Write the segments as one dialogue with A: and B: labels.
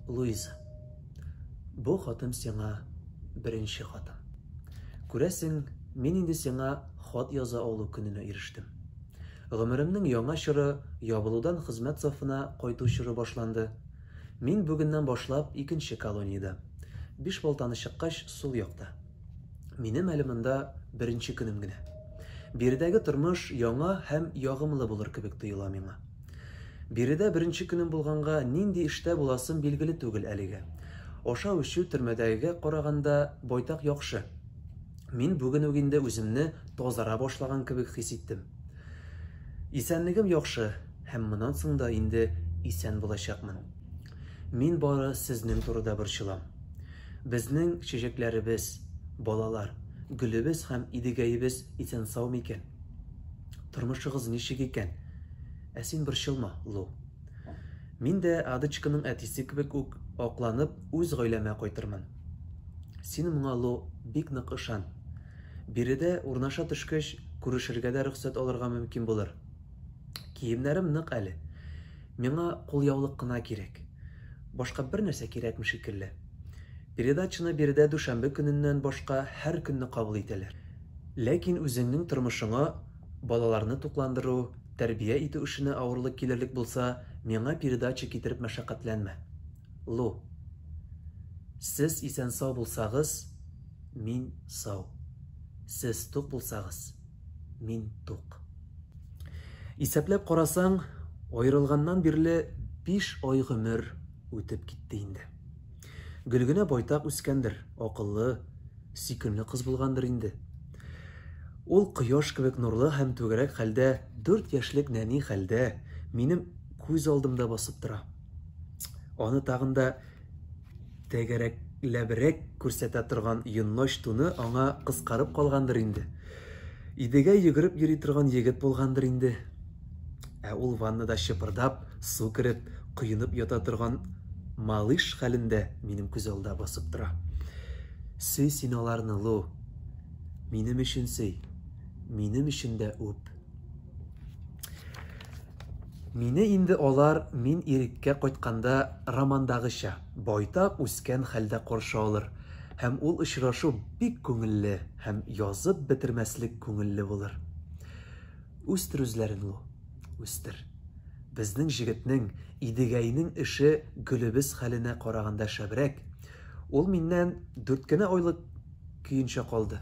A: Луиза, бу хатым сиңа беренче хатым. Күрәсең, мин инде сиңа хат яза алу көненә ирештем. Гомеремнең яңа чоры, ябылудан хезмәт сафына кайту чоры башланды. Мин бүгеннән башлап икенче колониядә, биш балтаны чыккач, сул якта. Минем әле монда беренче көнем генә. Биредәге тормыш яңа һәм ягымлы булыр кебек тоела миңа. Биредә беренче көнем булганга, нинди эштә буласым билгеле түгел әлегә. Ашау-эчү төрмәдәгегә караганда байтак яхшы. Мин бүген үк инде үземне тазара башлаган кебек хис иттем. Исәнлегем яхшы һәм моннан соң да инде исән булачакмын. Мин бары сезнең турыда борчылам. Безнең чәчәкләребез, балалар, гөлебез һәм Идегәебез исән-сау микән? Тормышыгыз ничек икән? Ә син борчылма, Лу. Мин дә Адочканың әтисе кебек үк акланып үз гаиләмә кайтырмын. Син моңа, Лу, бик нык ышан. Биредә урнаша төшкәч, күрешергә дә рөхсәт алырга мөмкин булыр. Киемнәрем нык әле. Миңа кулъяулык кына кирәк. Башка бернәрсә кирәкми шикелле. Передачаны биредә дүшәмбе көненнән башка һәр көнне кабул итәләр. Ләкин үзеңнең тормышыңа балаларны тукландыру, тәрбия итү эшенә авырлык килерлек булса, миңа передача китереп мәшәкатьләнмә. Лу. Сез исән-сау булсагыз, мин сау. Сез тук булсагыз. мин тук. Исәпләп карасаң, аерылганнан бирле биш ай гомер үтеп китте инде. Гөлгенә байтак үскәндер, акыллы, сөйкемле кыз булгандыр инде. Ул кояш кебек нурлы һәм түгәрәк хәлдә, дүрт яшьлек нәни хәлдә минем күз алдымда басып тора. Аны тагын да тәгәрәкләбрәк күрсәтә торган йонноч туны аңа кыскарып калгандыр инде. Идегә йөгереп йөри торган егет булгандыр инде. Ә ул ваннада чыпырдап, су кереп, коенып ята торган малыш хәлендә минем күз алда басып тора. Сөй син аларны, Лу. Минем өчен сөй. Минем өчен дә үп. Мине инде алар мин иреккә кайтканда романдагыча, байтак үскән хәлдә каршы алыр һәм ул очрашу бик күңелле һәм язып бетермәслек күңелле булыр. Үстер үзләрен, Лу, үстер. Безнең җегетнең, Идегәйнең эше гөлебез хәленә караганда шәбрәк. Ул миннән дүрт кенә айлык көенчә калды.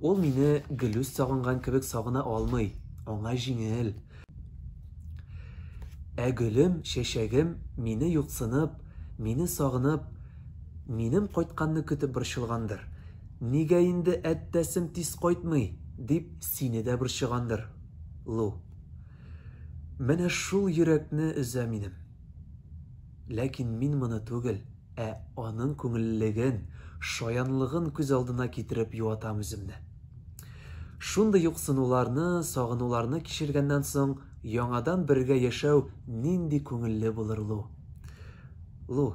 A: Ул мине Гөлүс сагынган кебек сагына алмый, аңа җиңел. Ә гөлем, чәчәгем, мине юксынып, мине сагынып, минем кайтканны көтеп борчылгандыр. Нигә инде әттәсем тиз кайтмый, дип сине дә борчыгандыр, Лу. Менә шул йөрәкне өзә минем. Ләкин мин моны түгел. Ә аның күңеллелеген, шаянлыгын күз алдына китереп юатам үземне. Шундый юксынуларны, сагынуларны кичергәннән соң, яңадан бергә яшәү нинди күңелле булыр лу? Лу,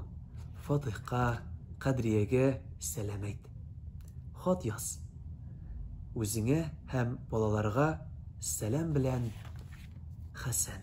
A: Фатыйхка, Кадриягә сәлам әйт. Хат яз. Үзеңә һәм балаларга сәлам белән Хәсән.